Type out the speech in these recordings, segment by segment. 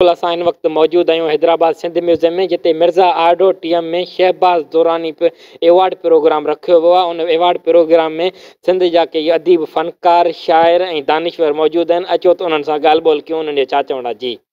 اسان هن وقت موجود آهيون حيدرآباد سنڌ ميوزيم ۾ جتي مرزا آرڊو ٽيم ۾ شهباز دراني به ايوارڊ پروگرام رکيو ويو آهي ان ايوارڊ پروگرام ۾ سنڌ جا ڪيئي اديب فنڪار شاعر ۽ دانشور موجود آهن اچو ته انهن سان ڳالهه ٻولهه ڪيون انهن جا ڇا چوڻا جي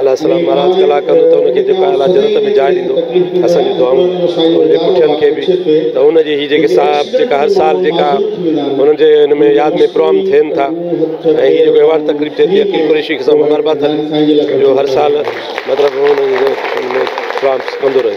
الله السلام مھاراج ڪلا ڪندو ته ان کي جيڪو آء الله جنت ۾ جاء ڏيندو اسان جون دعائون انھن جي پٺين کي به ته ان جي ھي جيڪي صاحب جيڪا ھر سال جيڪا انھن جي ان ۾ ياد ۾ پروگرام ٿين ٿا ۽ ھي جيڪو ايوارڊ تقريب ٿئي ٿي عقيل قريشي کي سان مبارڪباد ھلي جو ھر سال مطلب ان ۾ پروگرام ڪندو رھي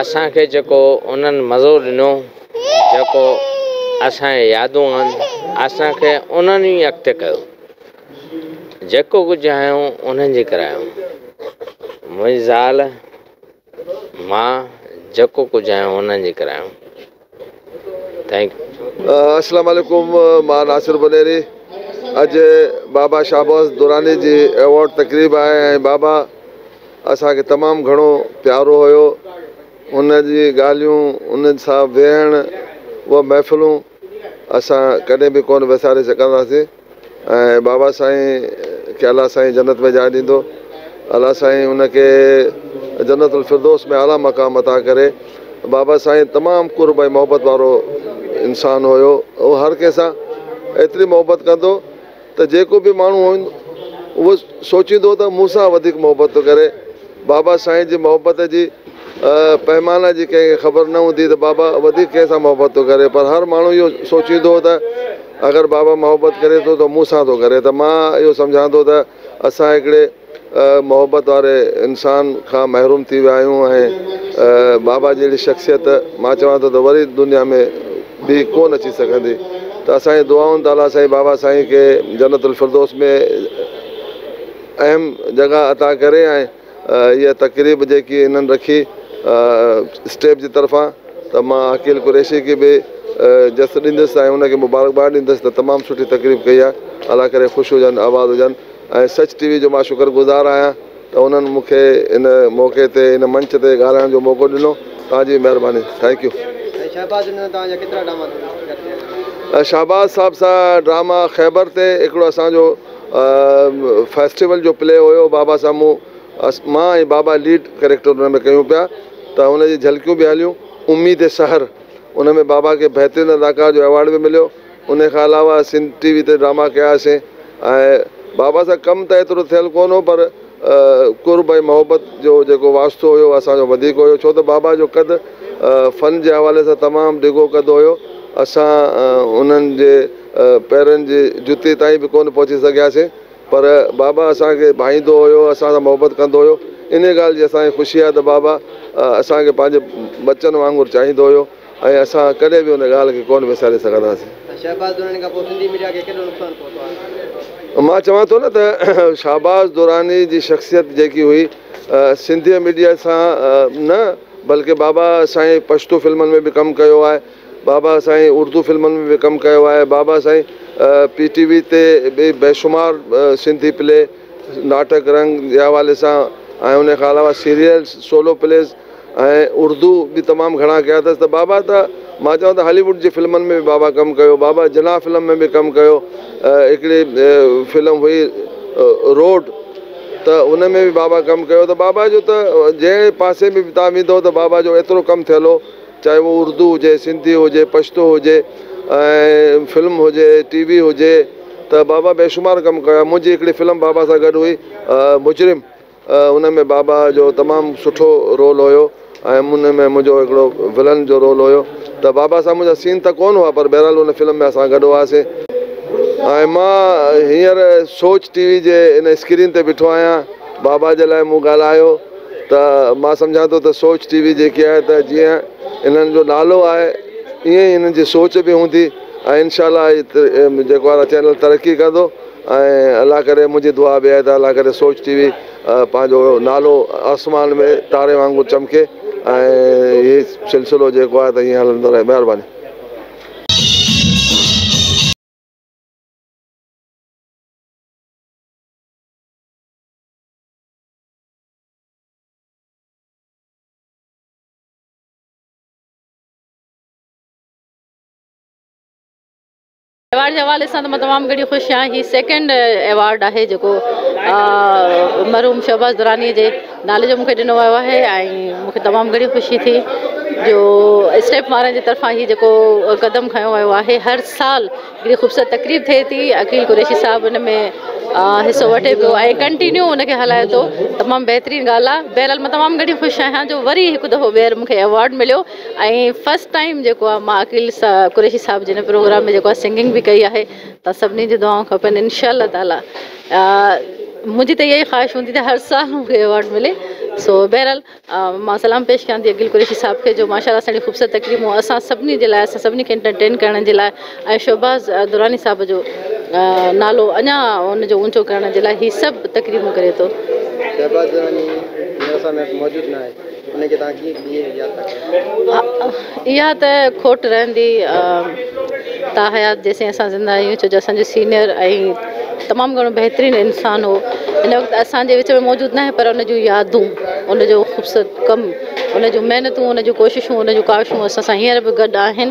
اسان کي جيڪو انهن مزو ڏنو، جيڪو اسان جي يادون آهن، اسان کي انهن ئي اڳتي ڪيو. جيڪو ڪجهه آهيون انهن جي ڪري آهيون. منهنجي زال، مان جيڪو ڪجهه آهيون انهن جي ڪري آهيون. Thank you. اسلام عليڪم مان ناصر بنيري اڄ بابا شاباز دراني جي ايوارڊ تقريب آهي ۽ بابا اسان کي تمام گهڻو پيارو هيو ان جي ڳالهيون ان سان ويهڻ اهي محفلون اسان ڪڏهن به ڪونه وساري سگهنداسين. ۽ بابا سائين کي الله سائين جنت ۾ جاء ڏيندو الله سائين ان کي جنت الفردوس ۾ اعليٰ مقام عطا ڪري بابا سائين تمام قرب ۽ محبت وارو انسان هيو هو هر ڪنهن سان ايتري محبت ڪندو ته جيڪو به ماڻهو هو سوچيندو هو ته مون سان وڌيڪ محبت ٿو ڪري بابا سائين جي محبت جي پئمانه جي ڪنهن کي خبر نه هوندي ته بابا وڌيڪ ڪنهن سان محبت ٿو ڪري پر هر ماڻهو اهو سوچيندو هو ته اگر بابا محبت ڪري ٿو ته مون سان ٿو ڪري ته مان اهو سمجهان ٿو ته اسان هڪڙي محبت واري انسان کان محروم ٿي ويا آهيون ۽ بابا جهڙي شخصيت مان چوان ٿو ته وري دنيا ۾ ٻي ڪونه اچي سگهندي ته اسان جي دعائن تعاليٰ سائين بابا سائين کي جنت الفردوس ۾ اهم جڳهه عطا ڪري ۽ اها تقريب جيڪي هنن رکي اسٽيپ جي طرفان ته مان عقيل قريشي کي به جس ڏيندس ۽ ان کي مبارڪباد ڏيندس ته تمام سٺي تقريب ڪئي آهي الله ڪري خوش هجن آباد هجن ۽ سچ ٽي وي جو مان شڪر گذار آهيان ته انهن مون کي ان موقعي تي ان منچ تي ڳالهائڻ جو موقعو ڏنو توهان جي به مهرباني ٿينڪ يو. سائين شهباز جن سان توهان جا ڪيترا ڊراما ٿيل آهن؟ شهباز صاحب سان ڊراما خيبر تي هڪڙو اسان جو فيسٽيول جو پلي هيو بابا سامهون مان ۽ بابا ليڊ ڪريڪٽر ان ۾ ڪيون پيا ته ان جي جهلڪيون به هليون اميد سحر ان ۾ بابا کي بهترين اداڪار جو ايوارڊ به مليو انهي کان علاوه سنڌ ٽي وي تي ڊراما ڪياسين ۽ بابا سان ڪم ته ايترو ٿيل ڪونه هو پر قرب ۽ محبت جو جيڪو واسطو هيو اهو اسان جو وڌيڪ هيو ڇو ته بابا جو قد فن جي حوالي سان تمام ڊگهو قد هيو اسان انهن جي پيرن جي جتي تائين به ڪونه پهچي سگهياسين پر بابا اسان کي ڀائيندو هيو اسان سان محبت ڪندو هيو انهي ڳالهه جي اسان کي خوشي آهي ته بابا اسان کي پنهنجي ٻچن وانگر چاهيندو هيو. ۽ اسان ڪڏهن به ان ڳالهه کي ڪونه وساري سگهنداسين. شهباز دراني کان پوء سنڌي ميڊيا کي ڪيڏو نقصان پهتو آهي؟ مان چوان ٿو نه ته شهباز دراني جي شخصيت جيڪي هئي سنڌي ميڊيا سان نه بلڪه بابا سائين پشتو فلمن ۾ به ڪم ڪيو آهي، بابا سائين اردو فلمن ۾ به ڪم ڪيو آهي، بابا سائين پي ٽي وي تي به بيشمار سنڌي پلي، ناٽڪ رنگ جي حوالي سان ۽ ان کان علاوه سيريلز، سولو پليز. ۽ اردو به تمام گهڻا ڪيا اٿس ته بابا ته مان چوان ته هالي ووڊ جي فلمن ۾ به بابا ڪم ڪيو بابا جناح فلم ۾ به ڪم ڪيو هڪڙي فلم هئي روڊ ته ان ۾ به بابا ڪم ڪيو ته بابا جو ته جهڙي پاسي ۾ به تان ويندو ته بابا جو ايترو ڪم ٿيل هو چاهي اهو اردو هجي سنڌي هجي پشتو هجي ۽ فلم هجي ٽي وي هجي ته بابا بيشمار ڪم ڪيا منهنجي هڪڙي فلم بابا سان گڏ هئي مجرم ان ۾ بابا جو تمام سٺو رول هيو ۽ ان ۾ منهنجو هڪڙو ولن جو رول هيو ته بابا سان منهنجا سين ته ڪون هئا پر بهرحال ان فلم ۾ اسان گڏ هئاسين ۽ مان هينئر سوچ ٽي وي جي ان اسڪرين تي بيٺو آهيان بابا جي لاء مون ڳالهايو ته مان سمجهان ٿو ته سوچ ٽي وي جيڪي آهي ته جيئن انهن جو نالو آهي ايئن ئي انهن جي سوچ به هوندي ۽ انشاء الله جيڪو آ چينل ترقي ڪندو ۽ الله ڪري منهنجي دعا به آهي ته الله ڪري سوچ ٽي وي پنهنجو نالو آسمان ۾ تاري وانگر چمڪي ۽ هي سلسلو جيڪو آهي ته ائين هلندو رهي مهرباني. ايوارڊ جي حوالي سان ته مان تمام گهڻي خوش آهيان هي سيڪنڊ ايوارڊ آهي جيڪو مرحوم شهباز دراني جي نالي جو مونکي ڏنو ويو آهي ۽ مونکي تمام گهڻي خوشي ٿي جو اسٽيپ وارن جي طرفان هي جيڪو قدم کنيو ويو آهي هر سال هڪڙي خوبصورت تقريب ٿئي ٿي عقيل قريشي صاحب ان ۾ حصو وٺي پيو ۽ ڪنٽينيو ان کي هلائي ٿو تمام بهترين ڳالهه آهي بهرحال مان تمام گهڻي خوش آهيان جو وري هڪ دفعو ٻيهر مونکي ايوارڊ مليو ۽ فرسٽ ٽائيم جيڪو آ مان عقيل قريشي صاحب جي هن پروگرام ۾ جيڪو آ سنگنگ به ڪئي آهي ته سڀني جون دعائون کپن انشاء الله تعالي منهنجي ته اها ئي خواهش هوندي ته هر سال مون کي ايوارڊ ملي سو بهرحال مان سلام پيش ڪيان ٿي عقيل قريشي صاحب کي جو ماشاء الله سهڻي خوبصورت تقريبون اسان سڀني جي لاء اسان سڀني کي انٽرٽين ڪرڻ جي لاء ۽ شهباز دراني صاحب جو نالو اڃا ان جو اونچو ڪرڻ جي لاء هي سڀ تقريبون ڪري ٿو. شهباز دراني هن رساء ۾ موجود ناهي انهي کي توهان ڪيئن ڪيئن ياد ٿا ڪريو؟ اها ته کوٽ رهندي تا حيات جيسين اسان زنده آهيون ڇو جو اسان جو سينيئر ۽ تمام گهڻو بهترين انسان هو هن وقت اسان جي وچ ۾ موجود ناهي پر ان جون يادون ان جو خوبصورت ڪم ان جون محنتون ان جون ڪوششون ان جون ڪاوشون اسان سان هينئر به گڏ آهن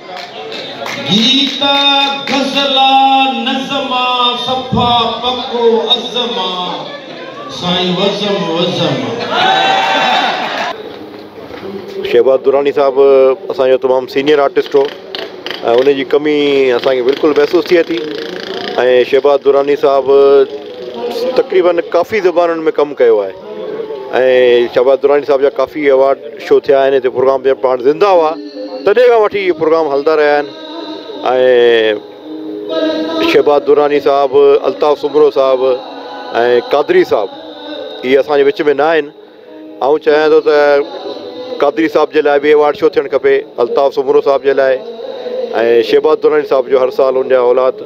گيت آ غزل آ نظم آ صفا پڪو عزم آ سائين وزم وزم آ. شهباز دراني صاحب اسان جو تمام سينيئر آرٽسٽ هو ۽ ان جي ڪمي اسان کي بلڪل محسوس ٿئي ٿي ۽ شهباز دراني صاحب تقريبن ڪافي زبانن ۾ ڪم ڪيو آهي. ۽ شهباز دراني صاحب جا ڪافي ايوارڊ شو ٿيا آهن هتي پروگرام جڏهن پاڻ زنده هئا تڏهن کان وٺي هي پروگرام هلندا رهيا آهن ۽ شهباز دراني صاحب الطاف سومرو صاحب ۽ قادري صاحب هي اسانجي وچ ۾ نه آهن آئون چاهيان ٿو ته قادري صاحب جي لاء بي ايوارڊ شو ٿيڻ کپي الطاف سومرو صاحب جي لاء ۽ شهباز دراني صاحب جو هر سال ان جا اولاد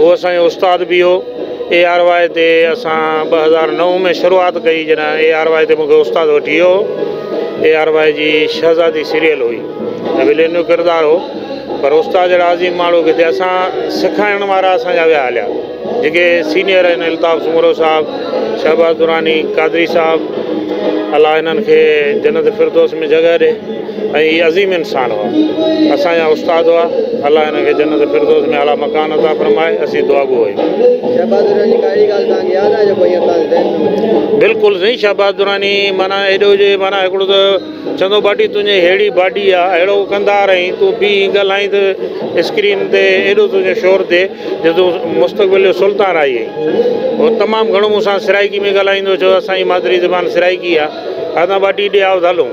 هو اسان جو استاد به هو. اي آر واء تي اسان ٻه هزار نو ۾ شروعات ڪئي جڏهن اي آر واء تي مون کي استاد وٺي ويو هو. اي آر واء جي شهزادي سيريل هئي ۽ ولين جو ڪردار هو پر استاد جهڙا عظيم ماڻهو ڪٿي اسان سيکارڻ وارا اسان جا ويا هليا جيڪي سينيئر آهن الطاف سومرو صاحب، شهباز دراني، قادري صاحب الله هنن کي جنت فردوس ۾ جڳهه ڏي. ۽ هي عظيم انسان هئا اسان جا استاد هئا الله هنن کي جنت فردوس ۾ اعليٰ مڪان عطا فرمائي اسين دعاگو آهيون. بلڪل سائين شهباز دراني معنيٰ ايڏو جي معنيٰ هڪڙو ته چندو باڊي تنهنجي ههڙي باڊي آ اهڙو ڪندار آهين تون بيهي ڳالهائين ته اسڪرين تي ايڏو تنهنجو شور ٿئي جو تون مستقبل جو سلطان آئي آهين هو تمام گهڻو مون سان سرائيڪي ۾ ڳالهائيندو هو چوندو هو اسان جي مادري زبان سرائيڪي آ هتان باڊي ڏي آء ڌالون.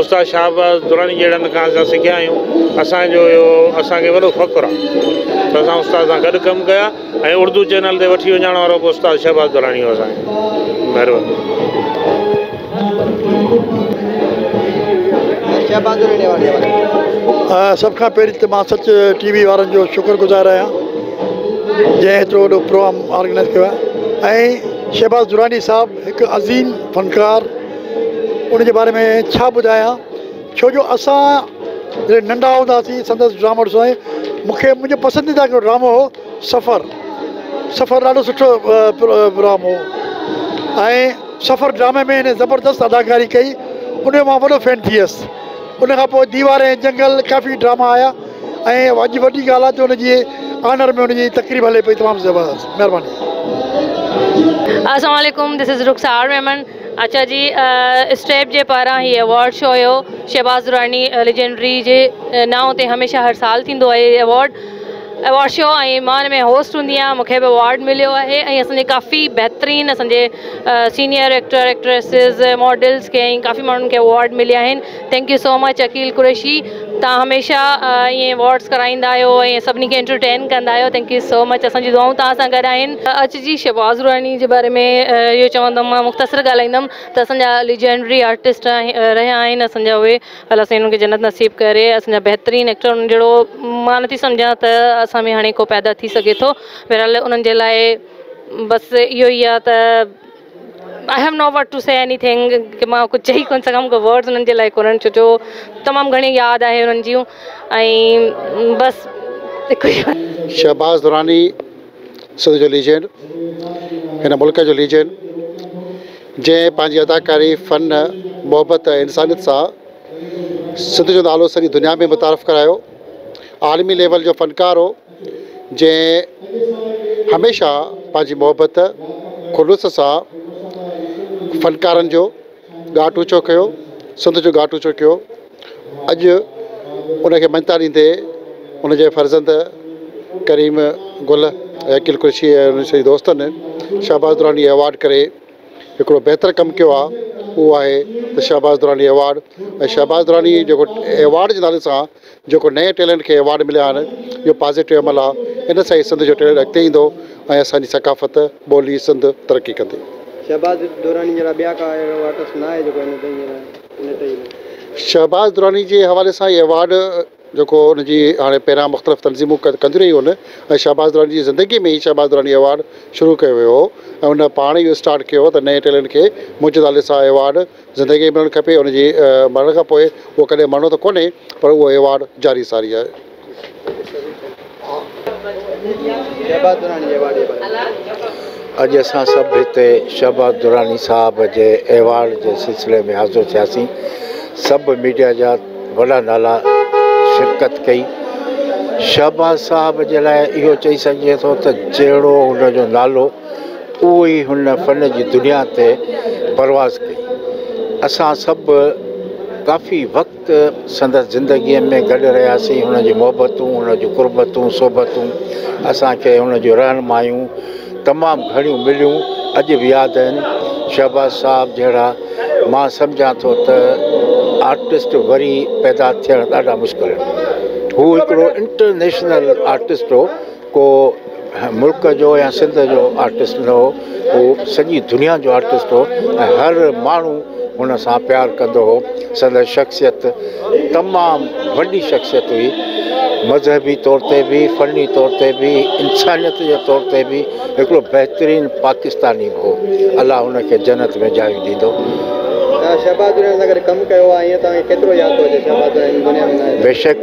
استاد شاهباز دراني جهڙن کان اسان سکيا آهيون. اسان جو اهو اسان کي وڏو فخر آهي ته اسان استاد سان گڏ ڪم ڪيو آهي ۽ اردو چينل تي وٺي وڃائڻ وارو به استاد شهباز دراني هو اسان کي. مهرباني. سڀ کان پهرين ته مان سچ ٽي وي وارن جو شڪر گذار آهيان جنهن ايترو وڏو پروگرام آرگنائز ڪيو آهي ۽ شهباز دراني صاحب هڪ عظيم فنڪار ان جي باري ۾ ڇا ٻڌايان ڇو جو اسان جڏهن ننڍا هوندا هئاسين سندس ڊرامو ڏسندا هئاسين مون کي منهنجو پسنديده هڪڙو ڊرامو هو سفر سفر ڏاڍو سٺو پروگرام هو ۽ سفر ڊرامي ۾ هن زبردست اداڪاري ڪئي ان جو مان وڏو فين ٿي ويس ان کان پوء ديوار ۽ جنگل ڪافي ڊراما آيا ۽ اڄ وڏي ڳالهه آهي ته ان جي آنر ۾ ان جي تقريب هلي پئي تمام زبردست مهرباني اسلام عليڪم دس از رخسار ميمڻ اچا جي اسٽيپ جي پاران هي ايوارڊ شو هيو شهباز دراني ليجنڊري جي نانء تي هميشه هر سال ٿيندو آهي هي ايوارڊ ايوارڊ شو ۽ مان ان ۾ هوسٽ هوندي آهيان مونکي به ايوارڊ مليو آهي ۽ اسان جي ڪافي بهترين اسان جي سينيئر ايڪٽر ايڪٽريسز ماڊلز کي ۽ ڪافي ماڻهن کي ايوارڊ مليا آهن thank you so much Aqeel Qureshi تان هميشه ائين وارڊز ڪرائيندا آهيو ۽ سڀني کي انٽرٽين ڪندا آهيو ٿينڪ يو سو مچ اسان جي دعائون توهان سان گڏ آهن. اچ جي شهباز روحاني جي باري ۾ اهو چوندم مان مختصر ڳالهائيندم ته اسان جا ليجينڊري آرٽسٽ رهيا آهن اسان جا اهي الله سائين انهن کي جنت نصيب ڪري اسان جا بهترين ايڪٽر انهن جهڙو مان نٿي سمجهان ته اسان ۾ هاڻي ڪو پيدا ٿي سگهي ٿو بهرحال انهن جي لاء بس اهو ئي آهي ته آئي have no what to say anything ڪي مان ڪجهه چئي ڪونه سگهيم ڪو ورڊز انهن جي لاء ڪونهن ڇو جو تمام گهڻي ياد آهي انهن جون ۽ بس هڪ ئي شهباز دراني سنڌ جو ليجينڊ هن ملڪ جو ليجينڊ جنهن پنهنجي اداڪاري فن محبت ۽ انسانيت سان سنڌ جو نالو سڄي دنيا ۾ متعارف ڪرايو عالمي ليول جو فنڪار هو جنهن هميشه پنهنجي محبت خلوص سان فنڪارن جو ڳاٽ اوچو ڪيو سنڌ جو ڳاٽ اوچو ڪيو اڄ ان کي مڃتا ڏيندي ان جي فرزند ڪريم گل عقيل قريشي ۽ ان سڄي دوستن شهباز دراني ايوارڊ ڪري هڪڙو بهتر ڪم ڪيو آهي اهو آهي ته شهباز دراني ايوارڊ ۽ شهباز دراني جيڪو ايوارڊ جي نالي سان جيڪو نئين ٽيلنٽ کي ايوارڊ مليا آهن اهو پازيٽو عمل آهي ان سان ئي سنڌ جو ٽيلنٽ اڳتي ايندو ۽ اسان جي ثقافت ٻولي سنڌ ترقي ڪندي. شهباز دراني جهڙا ٻيا ڪا اهڙو آرٽسٽ ناهي جيڪو هن تائين هن تائين نه شهباز دراني جي حوالي سان هي ايوارڊ جيڪو ان جي هاڻي پهريان مختلف تنظيمون ڪنديون رهيون آهن ۽ شهباز دراني جي زندگي ۾ ئي شهباز دراني ايوارڊ شروع ڪيو ويو هو ۽ ان پاڻ ئي اهو اسٽارٽ ڪيو هو ته نئين ٽيلنٽ کي منهنجي نالي سان ايوارڊ زندگي کي ملڻ کپي ان جي مرڻ کان پوء اهو ڪڏهن مرڻو ته ڪونهي پر اهو ايوارڊ جاري ساري آهي. اڄ اسان سڀ هتي شهباز دراني صاحب جي ايوارڊ جي سلسلي ۾ حاضر ٿياسين سڀ ميڊيا جا وڏا نالا شرڪت ڪئي شهباز صاحب جي لاء اهو چئي سگهجي ٿو ته جهڙو هن جو نالو اهو ئي هن فن جي دنيا تي پرواز ڪئي. اسان سڀ ڪافي وقت سندس زندگيء ۾ گڏ رهياسين، هن جون محبتون، هن جون قربتون، صحبتون، اسان کي هن جون رهنمايون تمام گهڻيون مليون، اڄ به ياد آهن. شهباز صاحب جهڙا مان سمجهان ٿو ته آرٽسٽ وري پيدا ٿيڻ ڏاڍا مشڪل آهن. هو هڪڙو انٽرنيشنل آرٽسٽ هو. ڪو ملڪ جو يا سنڌ جو آرٽسٽ نه هو هو سڄي دنيا جو آرٽسٽ هو ۽ هر ماڻهو هن سان پيار ڪندو هو سندس شخصيت تمام وڏي شخصيت هئي مذهبي طور تي به فني طور تي به انسانيت جي طور تي به هڪڙو بهترين پاڪستاني به هو الله هن کي جنت ۾ جايون ڏيندو. توهان شهباز دريان سان گڏ ڪم ڪيو آهي ائين توهان کي ڪيترو ياد ٿو اچي شهباز دريان هن دنيا ۾ نه آهي ته. بيشڪ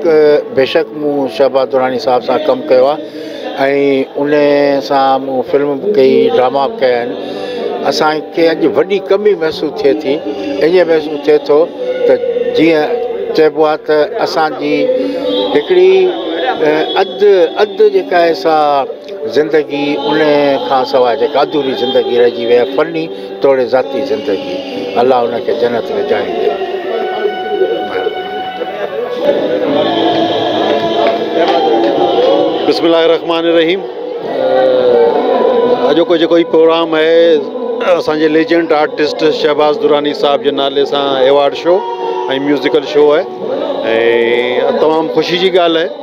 بيشڪ. مون شهباز دراني صاحب سان ڪم ڪيو آهي ۽ ان سان مون فلم به ڪئي ڊراما به ڪيا آهن اسان کي اڄ وڏي ڪمي محسوس ٿئي ٿي ائين محسوس ٿئي ٿو ته جيئن چئبو آهي ته اسانجي هڪڙي اڌ اڌ جيڪا آهي سا زندگي ان کان سواء جيڪا اڌوري زندگي رهجي وئي آهي فني توڙي ذاتي زندگي الله ان کي جنت ۾ جاهي ڏي بسم الله الرحمٰن الرحيم اڄوڪو جيڪو هي پروگرام آهي اسان جي ليجنڊ آرٽسٽ شهباز دراني صاحب جي نالي سان ايوارڊ شو ۽ ميوزڪل شو آهي ۽ تمام خوشي جي ڳالهه آهي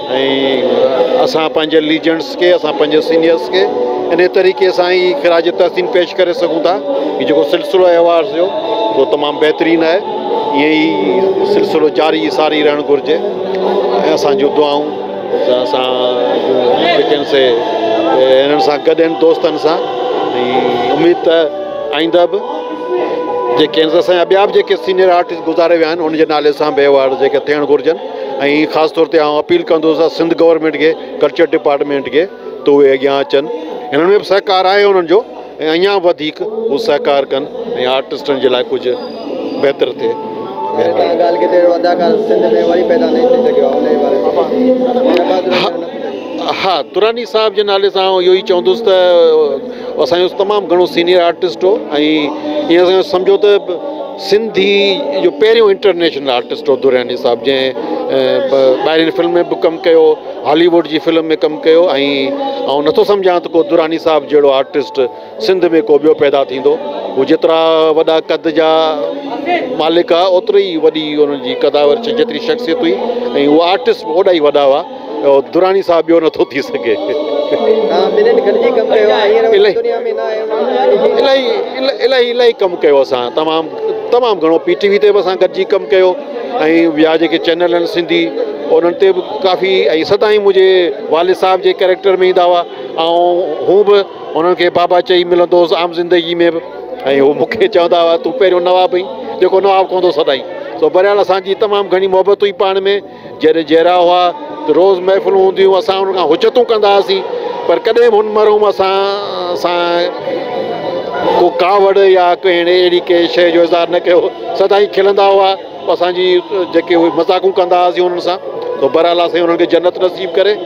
۽ اسان پنهنجي ليجنڊس کي اسان پنهنجي سينيئرس کي انهي طريقي سان ئي خراج تحسين پيش ڪري سگهون ٿا هي جيڪو سلسلو آهي ايوارڊس جو اهو تمام بهترين آهي ائين ئي سلسلو جاري ساري رهڻ گهرجي ۽ اسان جون دعائون اسان جيڪن سي انهن سان گڏ آهن دوستن سان ۽ اميد ته آئنده به جيڪي اسان جا ٻيا به جيڪي سينيئر آرٽسٽ گذاري ويا آهن ان جي نالي سان به ايوارڊ جيڪي ٿيڻ گهرجن ۽ خاص طور تي آئون اپيل ڪندس ته سنڌ گورنمينٽ کي ڪلچر ڊپارٽمينٽ کي ته اهي اڳيان اچن هنن ۾ به سهڪار آهي انهن جو ۽ اڃان وڌيڪ هو سهڪار ڪن ۽ آرٽسٽن جي لاء ڪجهه بهتر ٿئي ها دراني صاحب جي نالي سان آئون اهو ئي چوندس ته اسان جو تمام گهڻو سينيئر آرٽسٽ هو ۽ ائين سمجهو ته سنڌي جو پهريون انٽرنيشنل آرٽسٽ هو درياني صاحب جنهن ٻاهرين فلم ۾ به ڪم ڪيو هالي ووڊ جي فلم ۾ ڪم ڪيو ۽ آئون نٿو سمجهان ته ڪو دراني صاحب جهڙو آرٽسٽ سنڌ ۾ ڪو ٻيو پيدا ٿيندو هو جيترا وڏا قد جا مالڪ هئا اوتري ئي وڏي انهن جي قداور جيتري شخصيت هئي ۽ هو آرٽسٽ به اوڏا ئي وڏا هئا دراني صاحب ٻيو نٿو ٿي سگهي. توهان ٻنهين گڏجي ڪم ڪيو آهي هينئر وڃي دنيا ۾ نه آهيو ماڻهن سان گڏجي. الاهي الاهي ڪم ڪيو اسان تمام تمام گهڻو پي ٽي وي تي به اسان گڏجي ڪم ڪيو ۽ ٻيا جيڪي چينل آهن سنڌي انهن تي به ڪافي ۽ سدائين منهنجي والد صاحب جي ڪريڪٽر ۾ ايندا هئا ۽ هون به انهن کي بابا چئي ملندو هوس عام زندگي ۾ به ۽ هو مون کي چوندا هئا تون پهريون نواب هئين جيڪو نواب ڪهندو سدائين سو بهرحال اسان جي تمام گهڻي محبت هئي پاڻ ۾ جڏهن جيئرا هئا ته روز محفلون هونديون هيون، اسان هن کان حجتون ڪندا هئاسين، پر ڪڏهن به هن مرحوم اسان سان ڪو ڪاوڙ يا ڪنهن اهڙي ڪنهن شيء جو اظهار نه ڪيو، سدائين کلندا هئا، اسان جي جيڪي اهي مذاقون ڪندا هئاسين انهن سان، سو بهرحال الله سائين انهن کي جنت نصيب ڪري.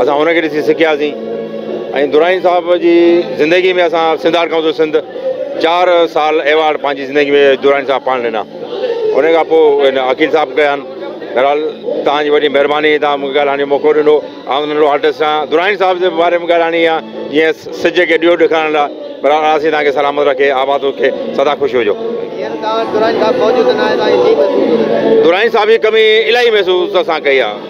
اسان هن کي ڏسي سکياسين ۽ دراني صاحب جي زندگي ۾ اسان سنڌ آرٽ ڪائونسل سنڌ چار سال ايوارڊ پنهنجي زندگي ۾ دراني صاحب پاڻ ڏنا ان کان پوء عقيل صاحب ڪيا آهن بهرحال توهان جي وڏي مهرباني توهان مونکي ڳالهائڻ جو موقعو ڏنو آئون ننڍڙو آرٽسٽ آهيان دراني صاحب جي باري ۾ ڳالهائڻي آهي جيئن سج کي ڏيئو ڏيکارڻ لاء بهرحال اسي توهان کي سلامت رکي آباد رکي سدا خوش هجو دراني صاحب جي ڪمي الاهي محسوس اسان ڪئي آهي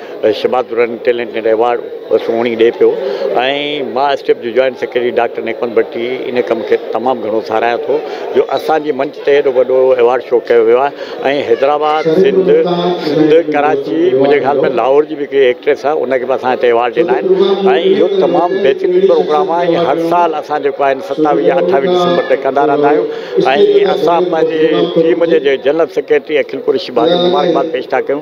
Shahbaz Durrani talent net award بھ سھڻي ڏئي پيو ۽ مان ايس ٽي ايف جو جوائنٽ سيڪريٽري ڊاڪٽر نيڪوند بٽي ان ڪم کي تمام گھڻو ساراھيان ٿو جو اسان جي منچ تي ھيڏو وڏو ايوارڊ شو ڪيو ويو آھي ۽ حيدرآباد سنڌ سنڌ ڪراچي منھنجي خيال ۾ لاھور جي بھ ھڪڙي ايڪٽريس آھي ان کي بھ اسان ھتي ايوارڊ ڏنا آھن ۽ اھو تمام بھترين پروگرام آھي ۽ ھر سال اسان جيڪو آھن ستاويھ يا اٺاويھ ڊسمبر تي ڪندا رھندا آھيون ۽ اسان پنھنجي ٽيم جي جنرل سيڪريٽري اکل قريشي بھ مبارڪباد پيش ٿا ڪيون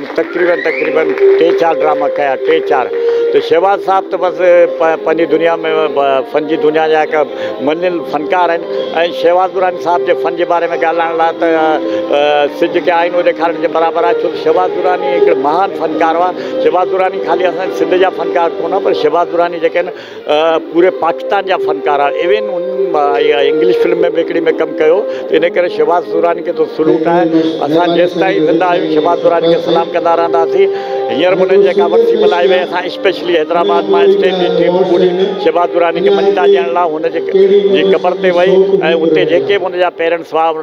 تقريبن تقريبن ٽي چار ڊراما ڪيا ٽي چار ته شهباز صاحب ته بس پنهنجي دنيا ۾ فن جي دنيا جا هڪ مڃيل فنڪار آهن ۽ شهباز دراني صاحب جي فن جي باري ۾ ڳالهائڻ لاء ته سج کي آئينو ڏيکارڻ جي برابر آهي ڇو ته شهباز دراني هڪڙو مهان فنڪار هئا شهباز دراني خالي اسان سنڌ جا فنڪار ڪونه پر شهباز دراني جيڪي آهن پوري پاڪستان جا فنڪار آهن ايون ان انگلش فلم ۾ به هڪڙي ۾ ڪم ڪيو ان ڪري شھباز دراني کي تو سلوٽ آهي اسان جيستائين زنده آهيون شھباز دراني کي سلام ڪندا رهنداسين هينئر به انهن جيڪا ورسي ملهائي وئي اسان اسپيشلي حيدرآباد مان اسٽيج جي ٽيم پوري شھباز دراني کي مڃتا ڏيڻ لاء هن جي قبر تي وئي ۽ اتي جيڪي به هن جا پيرنٽس هئا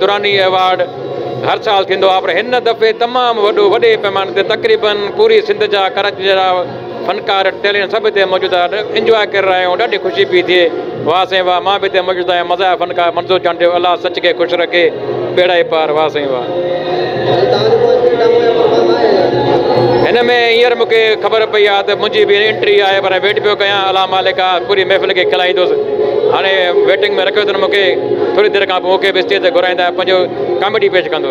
دراني ايوارڊ هر سال ٿيندو آهي پر هن دفعي تمام وڏو وڏي پيماني تي تقريبن پوري سنڌ جا ڪراچي جا فنڪار ٽيلنٽ سڀ هتي موجود آهن انجواء ڪري رهيا آهيون ڏاڍي خوشي پي ٿئي واه سائين واه مان به هتي موجود آهيان مزاح فنڪار منظور چانڊيو الله سچ کي خوش رکي ٻيڙائي پار واه سائين واه. هن ۾ هينئر مون کي خبر پئي آهي ته منهنجي به انٽري آهي پر ويٽ پيو ڪيان الله مالڪ آهي پوري محفل کي کلائيندس هاڻي ويٽنگ ۾ رکيو اٿن مون کي ٿوري دير کان پوء کيس اسٽيج تي گهرائيندا ۽ پنهنجو ڪاميڊي پيش ڪندو.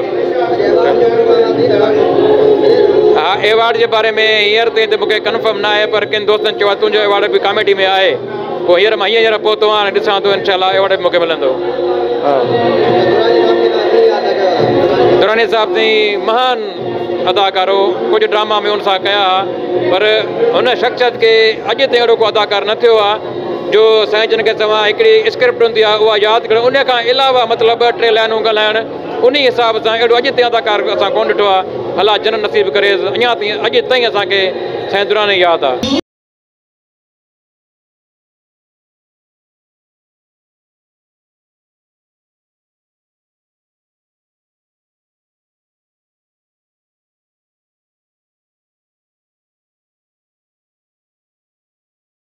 اها ايوارڊ جي باري ۾ هينئر تائين ته مون کي ڪنفرم نه آهي پر ڪن دوستن چيو آهي تنهنجو ايوارڊ به ڪاميڊي ۾ آهي پوء هينئر مان هينئر پهتو آهيان ۽ ڏسان ٿو انشاء الله ايوارڊ به مون کي ملندو. دراني صاحب سائين مهان اداڪار هو ڪجهه ڊراما مون سان ڪيا هئا پر هن شخصيت کي اڄ تائين اهڙو ڪو اداڪار نه ٿيو آهي. جو سائين جن کي توهان هڪڙي اسڪرپٽ هوندي آهي اها ياد ڪرڻ انهي کان علاوه مطلب ٻه ٽي لائنون ڳالهائڻ انهي حساب سان اهڙو اڄ تائين اداڪار اسان ڪونه ڏٺو آهي الله جنت نصيب ڪريس اڃا تائين اڄ تائين اسان کي سائين دراني ياد آهي.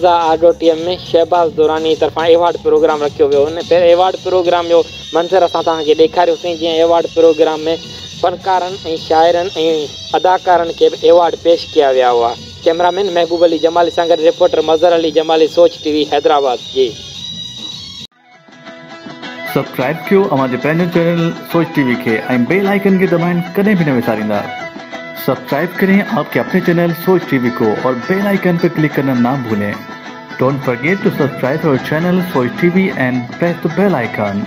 مرزا آڊٽوريم ۾ شهباز دراني طرفان ايوارڊ پروگرام رکيو ويو ان پير ايوارڊ پروگرام جو منظر اسان توهان کي ڏيکاريو سين جنهن ايوارڊ پروگرام ۾ فنڪارن ۽ شاعرن ۽ اداڪارن کي به ايوارڊ پيش ڪيا ويا هئا ڪئميرا مين محبوب علي جمالي سان گڏ reporter Mazhar Ali Jamali Soch T V Hyderabad جي. سبسڪرائب ڪيو اوهان جي پنهنجو چينل سوچ ٽي وي کي ۽ بيل آئيڪن کي دٻائڻ ڪڏهن به نه وساريندا سبسڪرائب ڪرين آپ ڪي اپني چينل سوچ ٽي وي ڪو اور بيل آئيڪن پي ڪلڪ ڪرنا نا ڀولين ڊونٽ فرگيٽ ٽو سبسڪرائب اور channel Soch T V and press ته بيل آئيڪن.